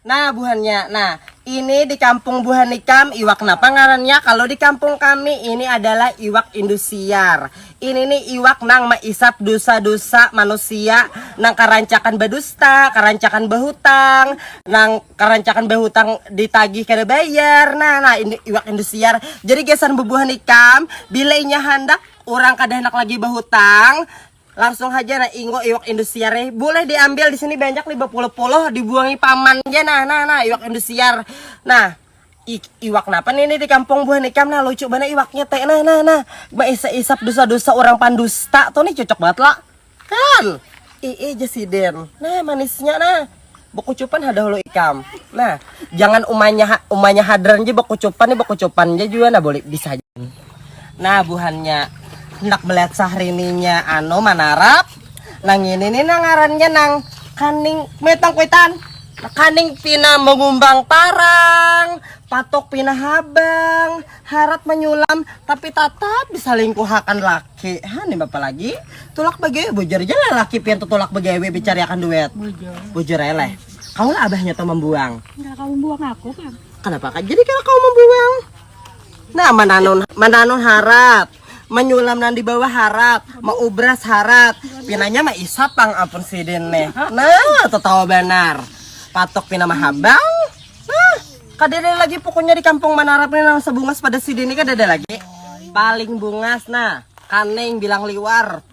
Nah buhannya, nah ini di kampung buhan ikam iwak napa ngarannya? Kalu di kampung kami ini adalah iwak indusiar. Ini ni iwak nang maisap dusa-dusa manusia nang karancakan badusta, karancakan bahutang, nang karancakan bahutang ditagih kada bayar. Nah, nah ini iwak indusiar. Jadi gasan bubuhan ikam, bila inya handak urang kada handak lagi bahutang, Langsung haja nah ingo iwak indusiar eh. Boleh diambil di sini banyak nih bepuluh-puluh dibuangi paman aja nah nah nah iwak indusiar. Nah, I, iwak napa nih ini di kampung buah nikam nah lucu banget iwaknya teh nah nah nah isap-isap dosa-dosa orang pandusta tuh nih cocok banget lah kan i aja siden nah manisnya nah Bekucupan ha dahulu ikam. Nah, jangan umanya umanya hadran je bekucupan ni bekucupan je juga nah boleh bisa aja. Nah, buhannya hendak melihat sahrininya anu manarap nang ini nih nang ngarannya nang kaning metang kuitan kaning pina mengumbang parang patok pina habang harat menyulam tapi tatap disalingkuhakan laki ha nih bapak lagi tulak begewe bujur aja lah laki pian tuh tulak begewe bicari akan duet bujur bujur eleh kau lah abahnya tuh membuang enggak kau membuang aku kan kenapa kan jadi kalau kau membuang nah mananun mananun harat menyulam nan di bawah harat mau ubras harat pinanya mah isap pang ampun sidin nih nah tuh tahu benar patok pina mahabang Kadada lagi pokoknya di kampung Manarap ini nang sebungas pada sini ini kadada lagi. Paling bungas nah, kaning bilang liwar.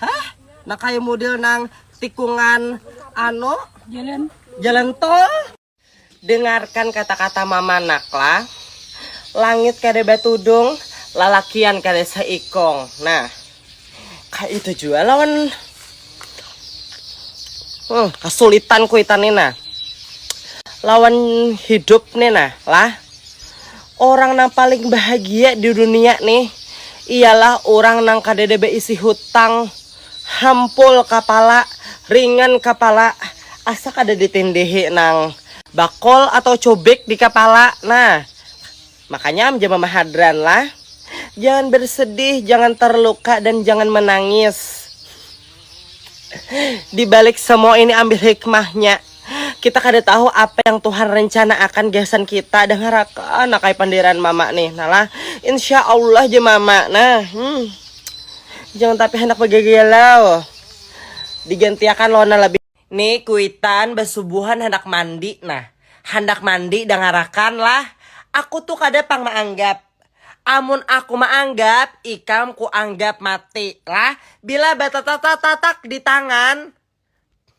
Hah? Nah kayak model nang tikungan ano jalan jalan tol. Dengarkan kata-kata mama nakla. Langit kada batudung, lalakian kada seikong. Nah, Kayak itu juga lawan hmm, kesulitan kuitan nena lawan hidup nena lah orang yang paling bahagia di dunia nih ialah orang nang kadada beisi hutang hampul kapala ringan kapala asa kada ditindihi nang bakol atau cubik di kapala nah Makanya am ja mama hadran lah. Jangan bersedih, jangan terluka dan jangan menangis. Di balik semua ini ambil hikmahnya. Kita kada tahu apa yang Tuhan rencana akan gasan kita. Dengarakan nakai pandiran mama nih. Nah lah, insya Allah ja mama. Nah, hmm. jangan tapi hendak begagalau. Digantiakan lona lebih. Ni kuitan basubuhan handak mandi nah. Handak mandi dangarakan lah. Aku tu kada pang maanggap. Amun aku maanggap ikam kuanggap mati lah bila batatatatak di tangan.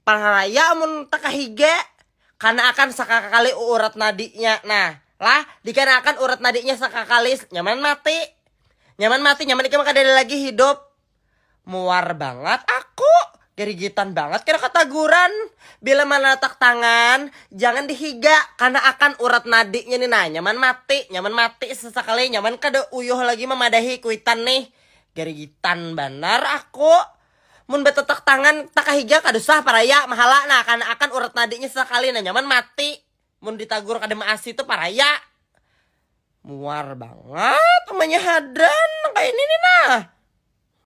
Pangalaya amun takahiga. Kana akan sakakali uurat nadinya nah lah dikana akan urat nadinya sakakali nyaman mati. Nyaman mati nyaman ikam kadada lagi hidup. Muar bangat aku, garigitan bangat kada kataguran. Bila manatak tangan, jangan di higa, karna akan urat nadinya ni nah nyaman mati, nyaman mati sasakali, nyaman kada uyuh lagi mamadahi kuitan nih. Garigitan banar aku. Mun batatak tangan takahiga kada usah paraya, mahala nah karna akan urat nadinya sasakali nah nyaman mati. Mun ditagur kada maasi tu paraya. Muar bangat umanya hadran nang kaya ini ni nah.